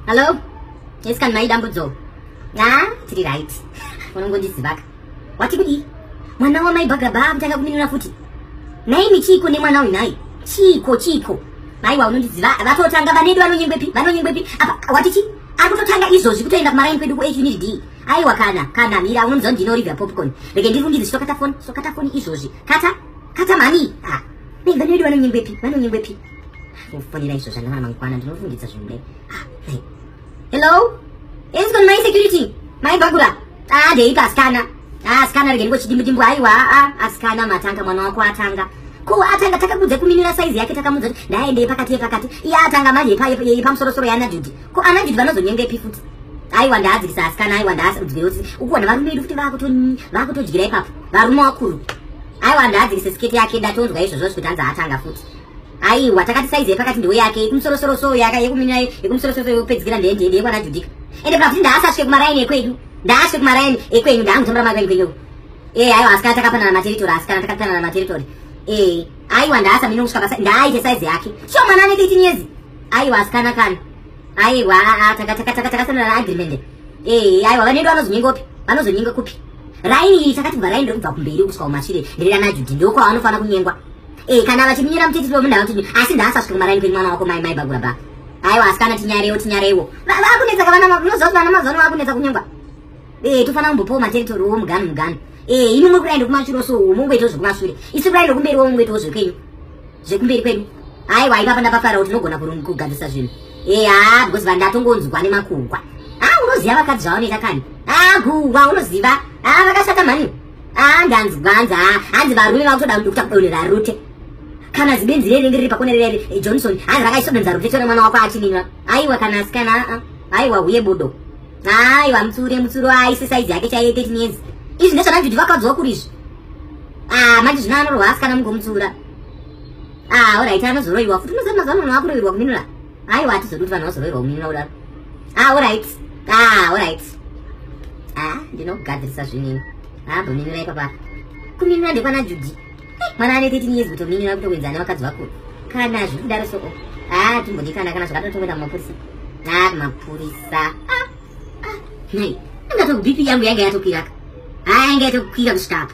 Hello? Yes kan mai dambudzo. Ah, tiri right. Unongondizivaka. Wati kudii? Mwana wamai Bhagabha akutanga kuminura futi. Nhaimi chiiko nemwana uyu nhai? Chiiko chiiko? Maiwa unondiziva vatotanga vanedu vanonyengwepi? Vanonyengwepi? Apa wati chii? akutotanga izvozvi kutoenda kumaraini kwedu kuh unit d aiwa kana kana mira unomuziva ndino river popcorn rege ndiri kundizi sokata foni sokata foni izvozvi kata kata mhani ah. vanoedu vanonyengwepi vanonyengwepi kufonera izvo zvanava mangwana ndinofungidza zvimbe hello is gone my security my bagura ah ndeipa asikana ah asikana rege ndikochidimbudimbu aiwa ah asikana matanga mwana wako atanga ko atanga takakudza kuminira saizi yake takamudza kuti ndaendei pakati yepakati iye atanga manje yepamusorosoro yaana judi ko ana judi vanozonyenga ipi futi aiwa ndaadzikisa asikana aiwa ndaadzikireusi ukuona varume vedu futi vakutodyira ipapo varume wakuru aiwa ndaadzikisa sketi yake ndatonzwa izvozvo zvikuti anzi atanga futi aiwa takati saizi yepakati ndiwe yake yekumusorosoroso yaka yekuminira yekumusorosoroso yekupedzikira ndeye ndeye ndeyekwana judika ende pakuti ndaasasvike kumaraini ekwedu ndaasvike kumaraini ekwenyu ndaangutambira makwenyu kwenyu ee aiwa asi kana takapanana materitori asi kana takapanana materitori ee aiwa ndaasa mino kusvika pasa ndaaite saizi yake sho mwana anenge itinyezi aiwa asi kana kana aiwa takasanana agreement ee aiwa vanoenda vanozonyenga upi vanozonyenga kupi raini iyi takati bva raini rekubva kumberi kusvika kumashure ndererana judhi ndokwaanofanira kunyengwa Eh kana vachiminyira mutiti wemunhu autini asi ndaasasvika kumaraini kwenyu mwana wako mai mai bagura ba. Aiwa asikana tinyareiwo tinyareiwo. Vakunetsa kavana unoziva kuti vana mazuva ano vakunetsa kunyengwa. Eh tofana kumbopawo materitory wo mugani mugani. Eh ini mwe kuraenda kumashure so mungoitawo zvekumashure. Isi kuraenda kumberi wo mungoitawo zvekwenyu. Zvekumberi kwenyu. Aiwa ipapa ndapafara kuti unogona kugadzisa zvinhu. Eh haa because vandatongonzwa nemakugwa. Ah unoziva vakadzi zvavanoita kani. Ah gugwa unoziva. Ah vakashata mhani. Ah, ndanzi gwanza ah, hanzi varume vakutoda kuda kudonhera rute kana zibinzi riri riri pakone rere eh, johnson hanzi rakaisodonza rute tore mwana wako achininwa aiwa kana asikana ah, ah. aiwa huye bodo aiwa mutsure mutsuro aise saizi yake chaiye 13 years izvi ndezvananzi kuti vakadzowa kuri izvi ah, manje zvino anorwa asikana mungomutsura ah, orit anozoroiwa futi unoziva mazuva ano munhu akuroirwa kuninura Aiwa hatizodi kuti vanhu vazoroverwa kuminin'ina kudaro. Ah, all right. Ah, all right. Ah, ndinokugadzirisa zvinini. Ah, bominin'ina ipapa. Kuminin'ina ndekwana Judy. Eh, mwana ane 13 years kutominin'ina kutokuenza ane vakadzi vakuru. Kana zviri kudaro so. Ah, timbodikana kana zvakadaro tokuenda kumapurisa. Ah, kumapurisa. Ah. Ah, nhai. Ndatoku BP yangu yanga yatokwiraka. Ah, yanga yatokwira kusvika apa.